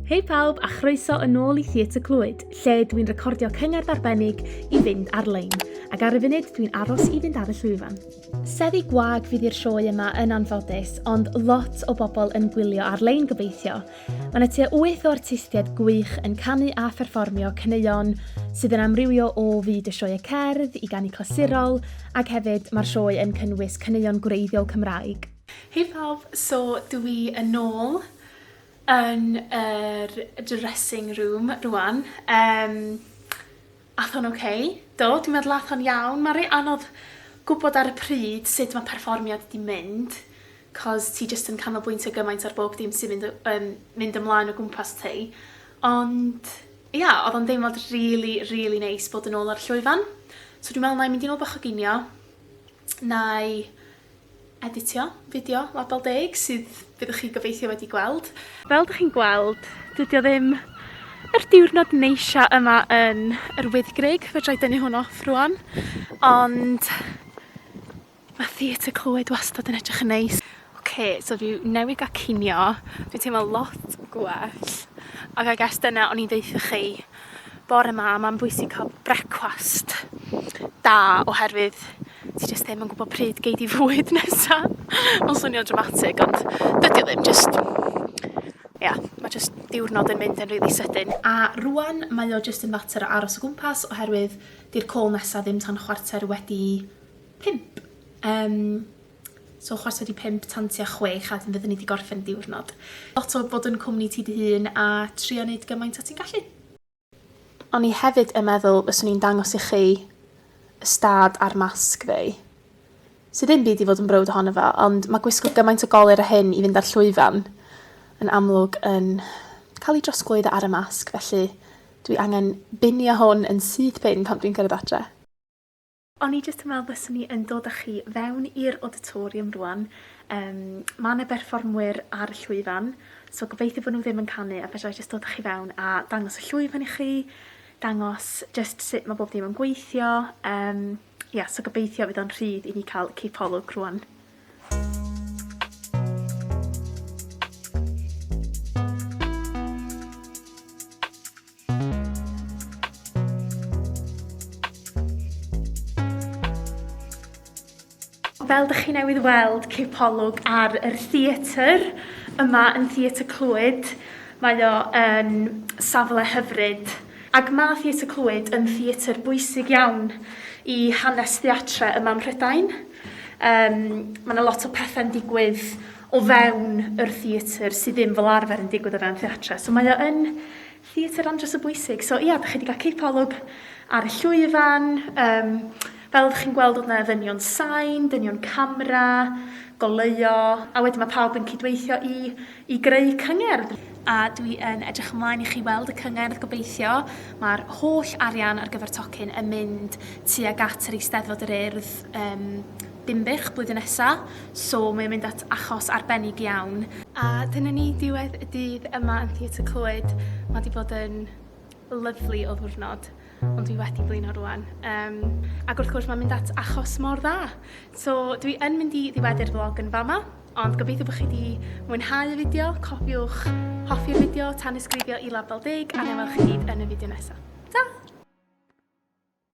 Hei pawb a chroeso yn ôl i Theatr Clwyd, lle dwi'n recordio cyngerdd arbennig i fynd ar-lein, ac ar y funud dwi'n aros i fynd ar y llwyfan. Seddi gwag fydd i'r sioe yma yn anffodus, ond lot o bobl yn gwylio ar-lein gobeithio. Mae yna tua wyth o artistiaid gwych yn canu a pherfformio caneuon sydd yn amrywio o fyd y sioe cerdd i ganu clasurol, ac hefyd mae'r sioe yn cynnwys caneuon gwreiddiol Cymraeg. Hei pawb, so dw i yn ôl. yn yr dressing room rwan. Yym, ath o'n ok. Do, dwi'n meddwl ath o'n iawn. Mae'n reit anodd gwybod ar y pryd sut mae perfformiad 'di mynd, 'cos ti jyst yn canolbwyntio gymaint ar bob dim sy'n mynd y- yn mynd ymlaen o gwmpas ti. Ond, ia, oedd o'n deimlad rili, rili neis bod yn ôl ar y llwyfan. So dwi'n meddwl 'na i mynd i nôl bach o ginio, 'na i Editio, fideo, label deg, sydd fyddwch chi gobeithio wedi gweld. Fel dych chi'n gweld, dydi o ddim yr diwrnod neisia yma yn yr Wyddgrug, fedrai dynnu hwn off rŵan, ond ma' Theatr Clwyd wastad yn edrych yn neis. Oce, so fi newydd ga'l cinio, dwi'n teimlo lot gwell, ac I guess dyna o'n i'n ddeutha chi bore ma, mae'n bwysig cael brecwast da oherwydd ti jyst ddim yn gwybod pryd gei di fwyd nesa. Mae'n swnio'n dramatig, ond dydy o ddim, jyst... Ia, yeah, mae jyst diwrnod yn mynd yn rili really sydyn. A rwan, mae o jyst yn fater o aros o gwmpas oherwydd di'r call nesa ddim tan chwarter wedi pump. Um, So chwarter wedi pump tan tua chwech a wedyn fydden ni 'di gorffen y diwrnod. Lot o bod yn cwmni ti dy hun a trio neud gymaint o ti'n gallu. O'n i hefyd yn meddwl fyswn i'n dangos i chi y stad a'r masg fi. Sydd ddim byd i fod yn browd ohono fo, ond mae gwisgo gymaint o golir a hyn i fynd ar llwyfan yn amlwg yn cael ei drosglwyddo ar y masg, felly dwi angen binio hwn yn syth pin pan dwi'n cyrraedd adre. O'n i jyst yn meddwl byswn i yn dod â chi fewn i'r auditorium rwan. Um, mae yna berfformwyr ar y llwyfan, so gobeithio bod nhw ddim yn canu a fedra i jyst dod â chi fewn a dangos y llwyfan i chi, dangos jyst sut mae bob dim yn gweithio. Um, yeah, so gobeithio fydd o'n rhydd i ni cael cipolwg rwan. Fel dych chi newydd weld, cipolwg ar yr theatr yma yn Theatr Clwyd. Mae o yn safle hyfryd. Ac mae Theatr Clwyd yn theatr bwysig iawn i hanes theatre yma ym Mhrydain. Um, mae yna lot o pethau'n digwydd o fewn yr theatr sydd ddim fel arfer yn digwydd o fewn theatre. So mae o yn theatr andros o bwysig. So ia, da chi wedi cael cipolwg ar y llwyfan. Um, fel ydych chi'n gweld oedd yna ddynion sain, dynion camera, goleuo, a wedyn mae pawb yn cydweithio i, i greu cyngerdd. A dwi yn edrych ymlaen i chi weld y cyngerdd gobeithio. Mae'r holl arian ar gyfer tocyn yn mynd tuag at yr Eisteddfod yr Urdd um, Dinbych blwyddyn nesa, so mae o'n mynd at achos arbennig iawn. A dyna ni, diwedd y dydd yma yn Theatr Clwyd. Mae 'di bod yn lyfli o ddiwrnod, ond dwi wedi blino rwan. Um, ac wrth gwrs mae'n mynd at achos mor dda. So dwi yn mynd i ddiweddu'r vlog yn fama, ond gobeithio bod chi wedi mwynhau y fideo, cofiwch hoffi'r fideo, tanysgrifio i Label Deg, a na welwch chi gyd yn y fideo nesaf. Ta!